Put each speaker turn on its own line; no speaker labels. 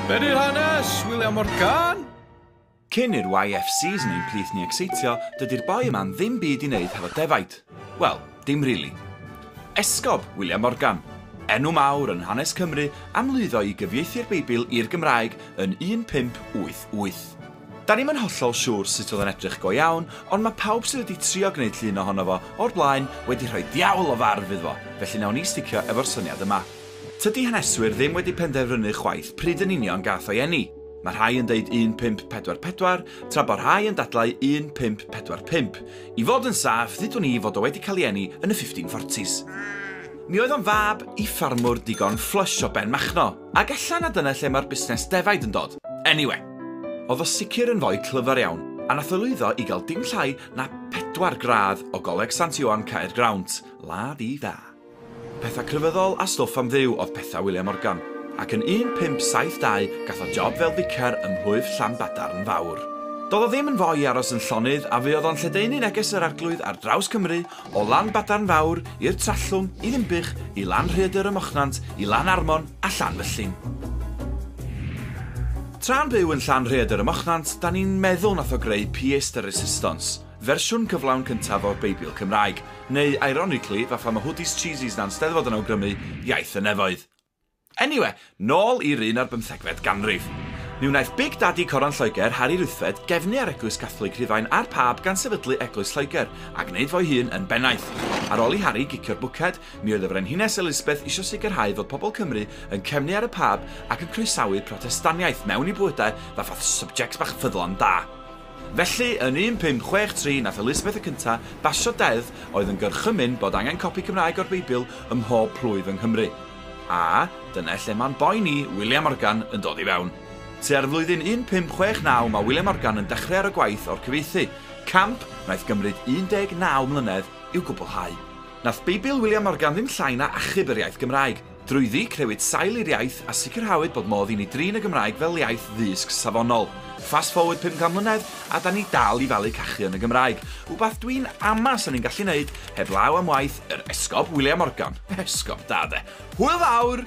Be di'r hanes, William Morgan? Cyn
i'r YF season un plith ni ecseitio, dydi'r boi yma'n ddim byd i wneud hefo defaid. Wel, dim rili. Esgob, William Morgan. Enw mawr yn hanes Cymru am lwyddo i gyfieithu'r Beibl i'r Gymraeg yn 1588. Da ni'm yn hollol siŵr sut oedd o'n edrych go iawn, ond mae pawb sydd wedi trio gwneud llun ohono fo o'r blaen wedi rhoi diawl o farf iddo fo, felly nawn ni sticio efo'r syniad yma. Tydi haneswyr ddim wedi penderfynu chwaith pryd yn union gath o'i eni. Mae rhai yn deud 1544, tra bo rhai yn dadlau 1545. I fod yn saff, ddudwn i fod o wedi cael ei eni yn y 1540s. Mi oedd o'n fab i ffarmwr digon fflysh o Ben Machno, ac ella na dyna lle mae'r busnes defaid yn dod. Eniwe! Oedd o sicr yn foi clyfar iawn, a nath o lwyddo i gael dim llai na pedwar gradd o Goleg Sant Ioan Caergrawnt, la-di-da. Pethau crefyddol a stwff am Dduw oedd pethau William Morgan, ac yn 1572 gath o job fel ficar ym mhlwyf Llanbadarn Fawr. Doedd o ddim yn fo i aros yn llonydd a fuodd o'n lledaenu neges yr Arglwydd ar draws Cymru, o Lanbadarn Fawr i'r Trallwng, i Ddinbych, i Lan Rhaeadr ym Mochnant, i Lan Armon a Llanfyllin. Tra'n byw yn Llan Rhaeadr ym Mochnant, 'da ni'n meddwl nath o greu Pièce de Résistance, Fersiwn cyflawn cyntaf o'r Beibl Cymraeg, neu ironically, fatha ma hoodies cheesies na'n Steddfod yn awgrymu, iaith y nefoedd. Anyway, nôl i'r un ar bymthegfed ganrif. Mi wnaeth Big Daddy Coron Lloegr, Harri Ruthfed, gefnu ar Eglwys Cathlig Rhufain a'r Pab gan sefydlu Eglwys Lloegr, a gwneud fo'i hun yn bennaeth. Ar ôl i Harri gicio'r bwced, mi oedd y Frenhines Elisbeth isio sicrhau fod pobl Cymru yn cefnu ar y Pab ac yn croesawu Protestaniaeth mewn i bywydau fatha subjects bach ffyddlon da. Felly, yn 1563 nath Elisabeth y Cynta' basio deddf oedd yn gorchymyn bod angen copi Cymraeg o'r Beibl ym mhob plwyf yng Nghymru. A, dyne lle ma'n boi ni, William Morgan, yn dod i fewn. Tua'r flwyddyn 1569 ma' William Morgan yn dechre ar y gwaith o'r cyfieithu, camp naeth gymryd 19 mlynedd i'w gwblhau. Nath Beibl William Morgan ddim llai na achub yr iaith Gymraeg. Drwyddi, crewyd sail i'r iaith a sicrhawyd bod modd i ni drin y Gymraeg fel iaith ddysg safonol. Fast forward 50 mlynedd a 'da ni dal i falu cachu yn y Gymraeg, wbath dwi'n ama 'sa ni'n gallu neud heb law am waith yr Esgob William Morgan. Esgob da 'de. Hwyl fawr!